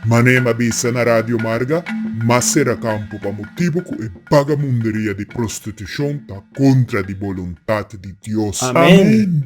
Manem a bisa na Radio Marga, Macera Campo pa motibu cu e bagamunderia di prostitucion ta contra di boluntad di Dios.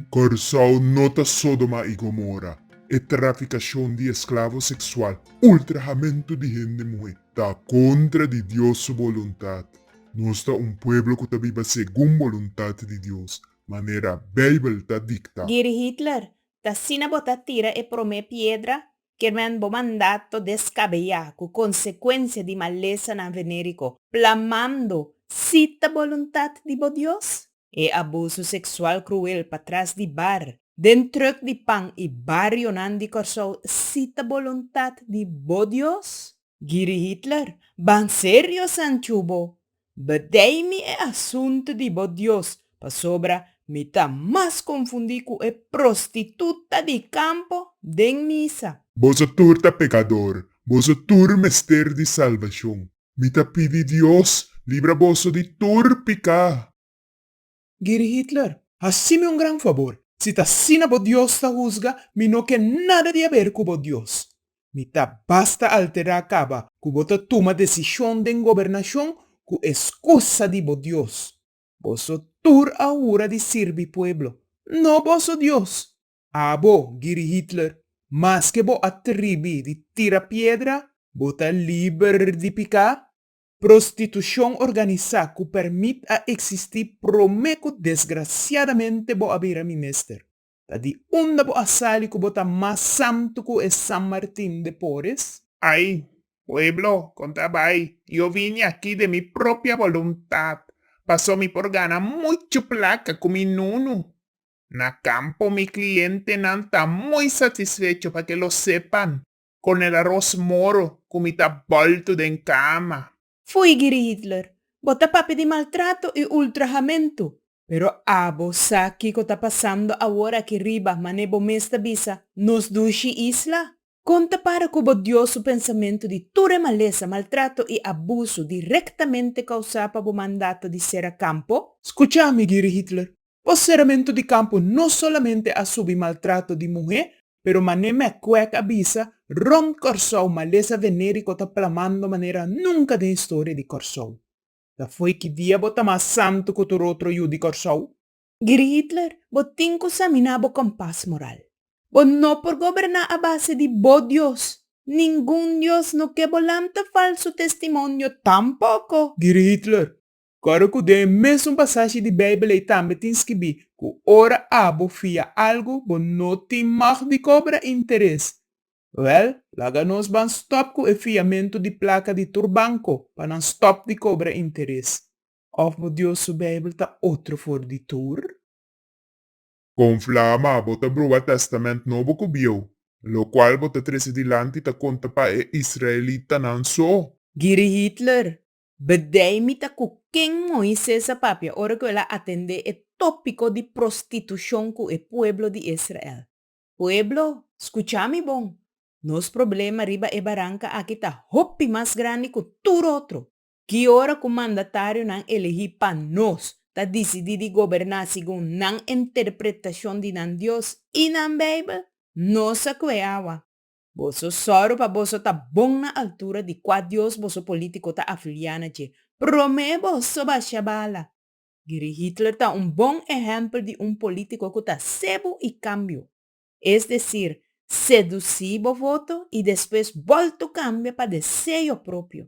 Corsou no ta Sodoma y Gomora, e traficacion di esclavo sexual, ultrahamentu di hende muhe, ta kontra di Dios su boluntat. Nos ta un pueblo ku ta biba segun boluntat di Dios, manera Beibel ta diktá. Giri Hitler, ta sina bo ta tira e promé piedra, kermen bo mandato deskabeá ku konsekuensia di malesa na venériko, plamando, Si ta boluntat di bo Dios? E abuso seksual kruel patras di bar, den truk di pan i barionan di Kòrsou si ta boluntat di bo Dios? Giri Hitler, Ban serio Sanchu bo bedei mi e asuntu di bo Dios pasobra mi ta mas konfundí ku e prostituta di kampo den misa. Boso tur ta pekador, boso tur mester di salbashon. Mi ta pidi Dios libra boso di tur piká. Giri Hitler, Hasi'mi un gran fabor. Si ta asina bo Dios ta husga, mi no ke nada di haber ku bo Dios. Mi ta basta alterá kaba ku bo ta tuma desishon den gobernashon ku e skusa di bo Dios. Boso tur a hura di sirbi pueblo, no boso Dios. Abo, Giri Hitler, maske bo a tribi di tira piedra, bo ta liber di piká? Prostitushon organisá ku pèrmit a eksistí promé ku desgrasiadamente bo a bira mi mester. Ta di unda bo a sali ku bo ta mas santu ku e San Martin de Pores? Ai, pueblo, konta bai, i o vini aki den mi propia boluntat, paso mi por gana muchu plaka ku mi nunu. Na campo mi clientenan ta muy satisfecho pa ke lo sepan con el aros moro cu mi ta bulto den cama. Foei Giri Hitler, bo ta papia di maltrato y ultrahamentu. Pero abo sa kico ta pasando awor aki riba, mane bo mes ta bisa, nos dushi isla? Kon ta para ku bo Dios su pensamentu di tur e malesa, maltrato i abusu direktamente kousá pa bo mandato di sera kampo? Skucha mi, Giri Hitler. Bo seramentu di kampo no solamente a subi maltrato di muhé, pero mané Mac Quack a bisa, rònt Kòrsou malesa venériko ta plamando manera nunka den historia di Kòrsou. Ta fo'i ki dia bo ta mas santu ku tur otro yu di Kòrsou? Grietler, Bo tin cu saminá bo kompas moral. Bo no por goberná a base di bo Dios. Ningun Dios no ke bo lanta falsu testimonio tampoco. Grietler, Ora cu den e mesun pasashi di Bijbel ei tambe tin skibí cu ora abo fia algu bo no tin mag di cobra interes. Wel, laga nos ban stop cu e fiamento di placa di tur banco pa nan stop di cobra interes. Òf bo Dios su Beibel ta otro for di tur? Kon Flama, bo ta bruha Tèstamènt Nobo ku bieu, lokual bo ta trese dilanti ta konta pa e israelitanan so? Giri Hitler, B'day mi ta ku ken Moises a papia ora ku el a atendé e tópiko di prostitushon ku e pueblo di Israel? Pueblo, skuchá mi bon! Nos problema riba e baranka aki ta hopi mas grandi ku tur otro! Ki ora ku mandatarionan elegí pa nos ta disidí di goberná segun nan interpretashon di nan Dios i nan Beibel, nos a kue awa. Boso sòru pa boso ta bon na altura di kua dios boso polítiko ta afiliá na dje. Promé boso basha bala! Geri Hitler ta un bon ehèmpel di un polítiko ku ta sebu i kambio. Es desir, sedusí bo voto i despues bòltu kambia pa deseyo propio.